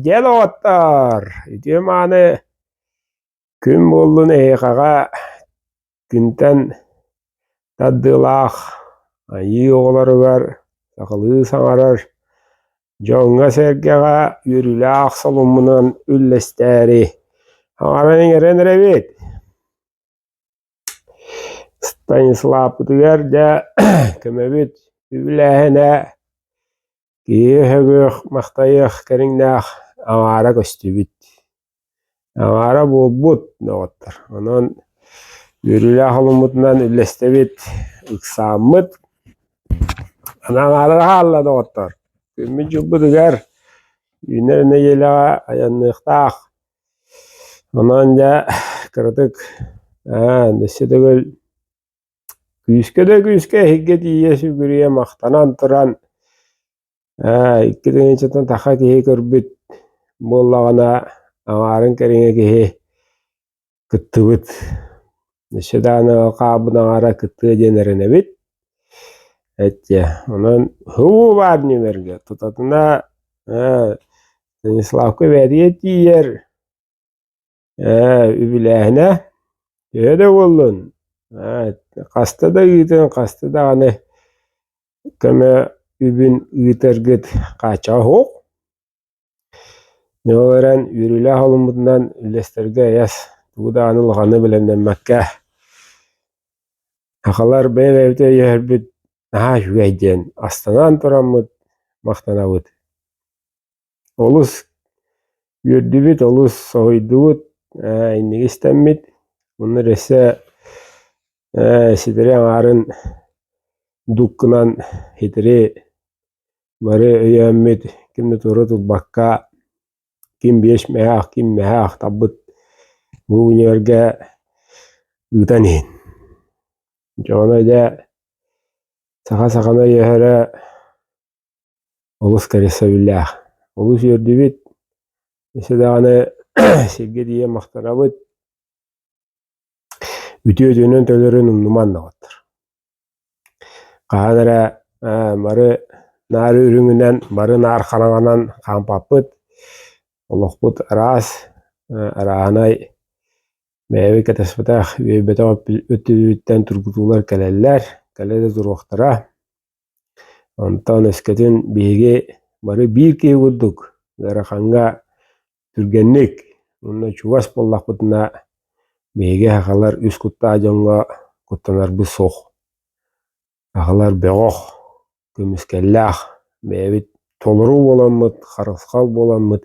Дьэ, доҕоттор, ити-мааны күн буоллун эһиэхэҕэ күнтэн тардыылаах айыы оҕолоругар сахалыы саҥарар дьоҥҥо-сэргэҕэ үөрүүлээх солуммунан үллэстээри аҕабын иҥэрэн эрэбит. Станислаппытыгар да көмөбүт үбүлээһинэ киһи өһөҥүөх махтайыах кэриҥнээх аҥаара көстүбүт аҥаара буолбут доҕоттор онон үөрүүлээх олуммутунан үллэстэбит ыксааммыт аҥаара хаалла доҕоттор күммүт дьылбытыгар үүнэр нэдиэлэҕэ айанныахтаах Онон дьэ кыратык аа өссө төгүл күүскэ да күүскэ эһиггэ тиийэ сүгүрүйэ махтанан туран аа икки тыһыынчаттан таха киһи көрбүт буоллаҕына аҥаарын кэриҥэ киһи кыттыбыт өссө даҕаны хаабын аҥара кыттыа диэн эрэнэбит эттиэ онон һуу баар нүмергэ тутатына Станиславка бэрийэ тиийэр үбүлээһинэ төһө да буоллун хаста да ыытын хаста даҕаны көмө үбүн ыытаргыт хааччаҕа суох Ньому баран үөрүүлээх олуммутунан үллэстэргэ эйэс, тугу даҕаны улаханы билэмнэммэккэ сахалар бэйэ-бэйэбитэ өйөһөрбүт наһаа үчүгэй диэн астынан тураммыт махтанабыт. Олус үөрдүбүт, олус соһуйдубут, ээ инники истэммит муннар өссө ээ ситэри аҥаарын дуккунан хитири Бары өйөөммүт, ким да туора турбакка, ким биэс мэһэ, ким мэһэ ахтарбыт бу универгэ ыытан иһин. Дьоно дьэ саха саханы өйөһөрө олус кэрэсэбиллээх. Олус үөрдүбүт, өссө даҕаны сиргэ тиийэ махтанабыт. Үтүө дьонун төлөрүн умнуман доҕоттор. Хаһан эрэ бары нары үрүҥүнэн, бары наар хараҥанан хаампаппыт, олохпут араас, арааһынай бэйэбит кэтэспэтэх үөйбэтэх өттүбүттэн тургутуулар кэлэллэр, кэлэ да туруохтара. Онтон өскөтүн биһиги бары биир киһи курдук ыараханга түргэнник уонна чугас буоллахпытына биһиги сахалар үс куттаах дьоҥҥо куттанарбыт суох сахалар бөҕөх көмүскэллээх бэйэбит толору буоламмыт харысхал буоламмыт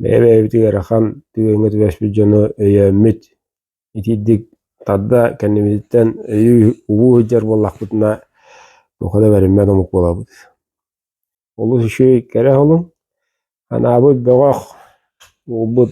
бэйэ-бэйэбит ыарахан түгэҥҥэ түбэспит дьону өйөөммүт итиитик тарда кэннибититтэн өйүү убуу сылдьар буоллахпытына туох да бэриммэт омук буолабыт олус үчүгэй кэрэ оһолуҥ анаабыт бөҕөх уурбут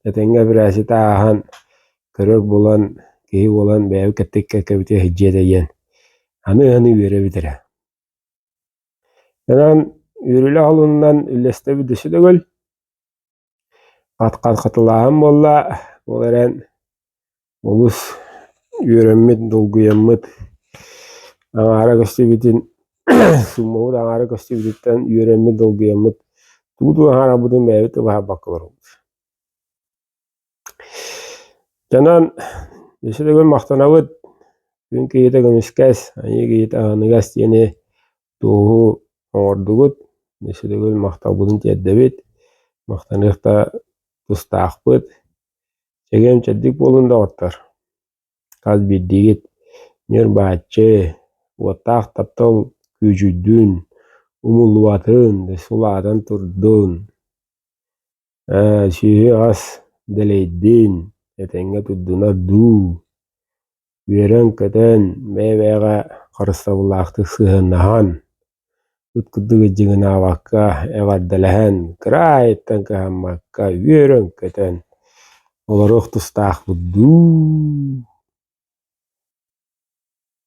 этэҥҥэ бирээситэ ааһан көрөр булан киһи буолан бэйэбит кэттик кэккэбитэ иһдьиэ тэйиэн аны ыаны үөрэбит эрэ онон үөрүлэ оһолунан үллэстэбит өссө төгүл Хатхалаһым буолла, ол эрэн олус үөрэммит, долгуйаммыт, аҥаара көстүбүтүн сууммабыт аҥаара көстүбүтүттэн үөрэммит, долгуйаммыт, тугу-тугу аҥаарабытын бэйэбит да быһаарбакка олоробут. Дьонон исидэгүн махтанабыт күн киһитэ көмүскэс, айыы киһитэ аһыныгас диэни тууһу оҥордугут, исидэгүн махталбытын тиэрдэбит, махтаныах да тустаахпыт, чэгиэн чэбдик буолун доҕоттор, хас биирдиигит ньурбааччы, уоттаах таптал күүдьүйдүн, умуллубатын, сулаатан турдун. Ээ, сиһи-ас дэлэйдин, этэҥҥэ турдунар дуу, үөрэн-көтөн, бэйэ-бэйэҕэ харыстабыллаахтык сыһыаннаһан, ыт курдук ыдьыгынаабакка эҕэрдэлэһэн, кыра аайыттан кыһаммакка үөрэн-көтөн олоруох тустаахпыт дуу.